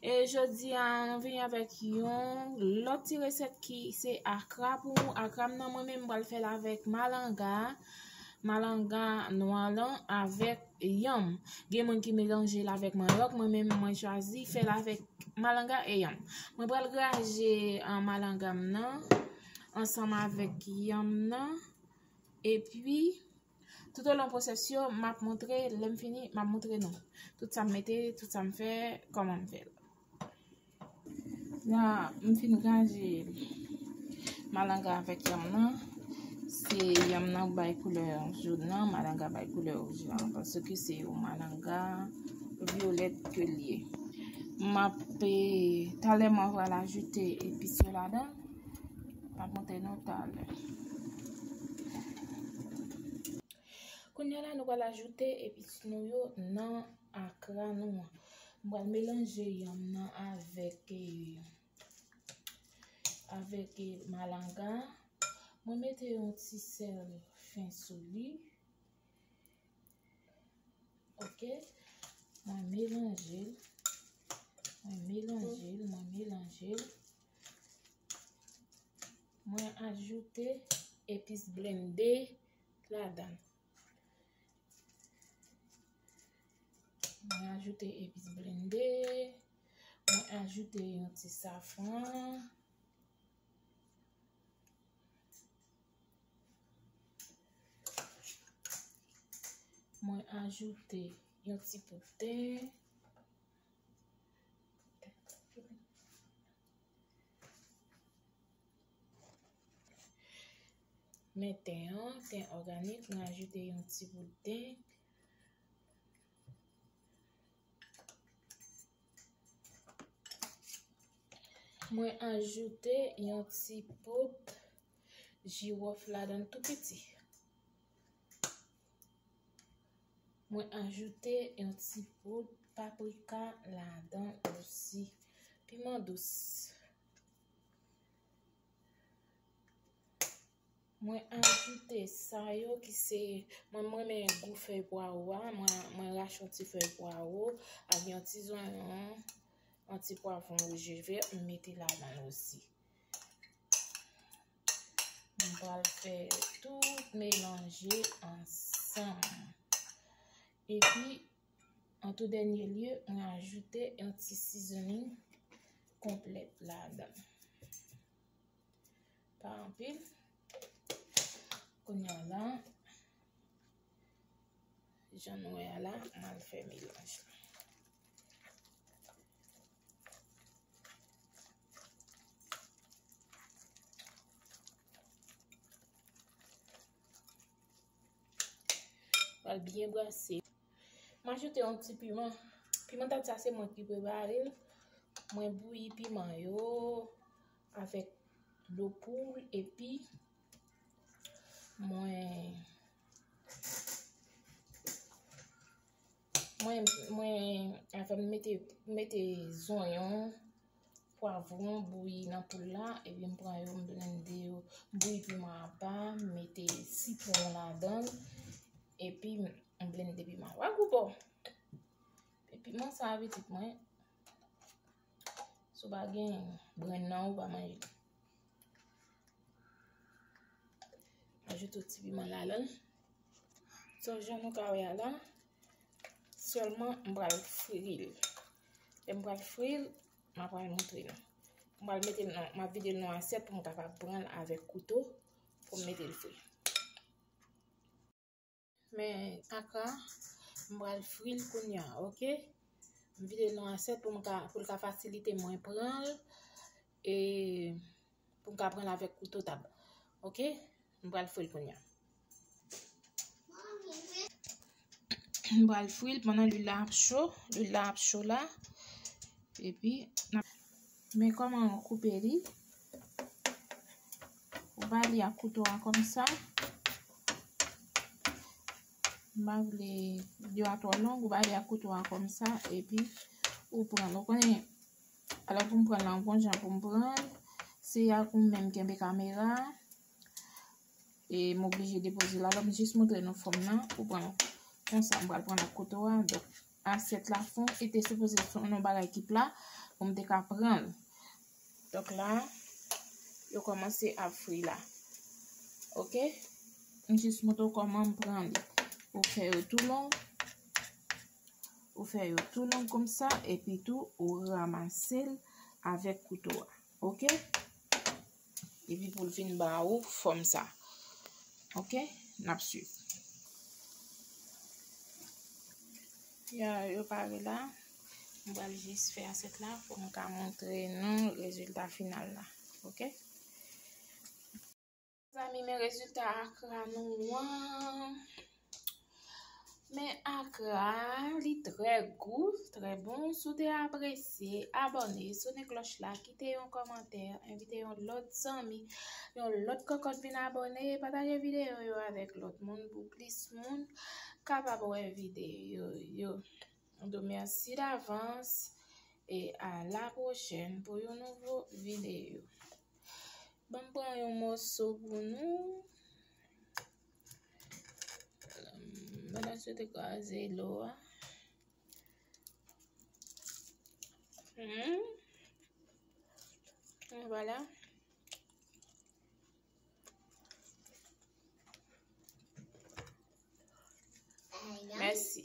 E jodi a nou vini avèk yon lòt ti resèt ki se akra pou nou. Akra m nan mwen menm m pral fè l avèk malanga, malanga nwa lan avèk yanm. Gen moun ki melanje l avèk manyòk, mwen menm mwen chwazi fè l avèk malanga e yanm. Mwen pral graje malanga m nan ansanm avèk yanm nan epi. Tout o lon pwosès yo map moutre lèm fini map moutre nou tout sam mete tout sam fè kòmanm fèl la m fin raje malanga avèk yanm nan se yanm nan k bay koulè joun nan malanga bay koulè wouj la paske se yon malanga vyolèt ke l ye map talèman vwa l ajoute epis yo ladann. Map montre nou talè. Kounya la nou pral ajoute epis nou yo nan akra nou an. M pral melanje yanm nan avèk e avèk e malanga. Mwen mete yon ti sèl fen sou li. Ok. Mwen melanje. Mwen melanje. Mwen melanje. Mwen melanje. Mwen ajoute epis blende ladan. Mwen ajoute epis blende. Mwen ajoute yon ti safran. Mwen ajoute yon ti pote. Men ten an, ten òganik, mwen ajoute yon ti bout ten. Mwen ajoute yon ti bout jiwòf ladan tou piti. Mwen ajoute yon ti poud paprika ladan osi. Piman dous. Mwen ajoute sa yo ki se mwen mwen men gou fè pwa ou a. Mwen rach yon ti fè pwa ou. A gen yon ti zon yon. Yon ti pwa fon ou je ve. Mwen mete ladan osi. Mwen pral fè tout melanje ansanm. E pi, an tou dènye lye, mwen ajoute yon ti seasoning konplèt la dan. Pa anpil. Kounye an lan, jan nou wè a la, mwen al fè melanje. Pral byen brase. M ajoute yon ti piman. Piman tat sa se mwen ki prepare l. Mwen bouyi piman yo avèk dlo poul epi mwen Mwen mwen avan m mete mete zonyon, pwavron bouyi nan poul la epi m pran yo m blende yo. M bouyi piman apa, m mete sitwon m ladan l epi m blende piman. Wè gou bon. Epi piman sa pitit mwen sou pa gen grenn nan ou pa manje. Ajoute ti piman la lèl. So jan nou ka wè a la. Sèlman m pral fril. Lè m pral fril, m ap pral montre nou. M pral mete nan, m ap vide l nan asyèt pou m kapab pran l avèk kouto pou m mete l fri. Men akra, m pral fri l kounya ok. M vide l nan asyèt pou m ka pou l ka fasilite mwen pran l e pou m ka pran l avèk kouto tab. Ok, m pral fri l kounya. M pral fri l pandan lwil la ap cho, lwil la ap cho la. Epi, men kòman koupe li. Ou va li ak kouto a kòm sa. M pa vle yo a twò long. Ou va li ak kouto a kòm sa. E pi ou pran. Ou konnen. A la pou m pran la. M konjan pou m pran. Se ya kou m menm kenbe kamera. E m oblije depoze la. M jis moutre nou fòm nan. Ou pran. Konsa m pral pran ak kouto a. Asyèt la fon e te sipoze fon yon bagay ki pla pou m te ka pran l. Donk la, yo kòmanse ap fri la. Ok? M jis montre w kòman m pran li. Ou fè yo tou long. Ou fè yo tou long konsa. Epi tou, ou ramase l avèk kouto a. Ok? Epi pou l vin ba ou fòm sa. Ok, n ap suiv. Ya, yo pare la. M pral jis fè asèt la pou m ka montre nou rezilta final la. Ok. Mezanmi men rezilta akra nou an. Men akra li trè gou, trè bon. Si w te apresye, abòne, sone klòch la, kite yon kòmantè, envite yon lòt zanmi, yon lòt kòkòt vin abòne, pataje videyo yo avèk lòt moun pou plis moun kapab wè videyo yo. Mwen di w mèsi davans e a la pwochèn pou yon nouvo videyo. Ban m pran yon moso pou nou. Mwen la sou te kaze lo a. Hmm. Voilà. Merci.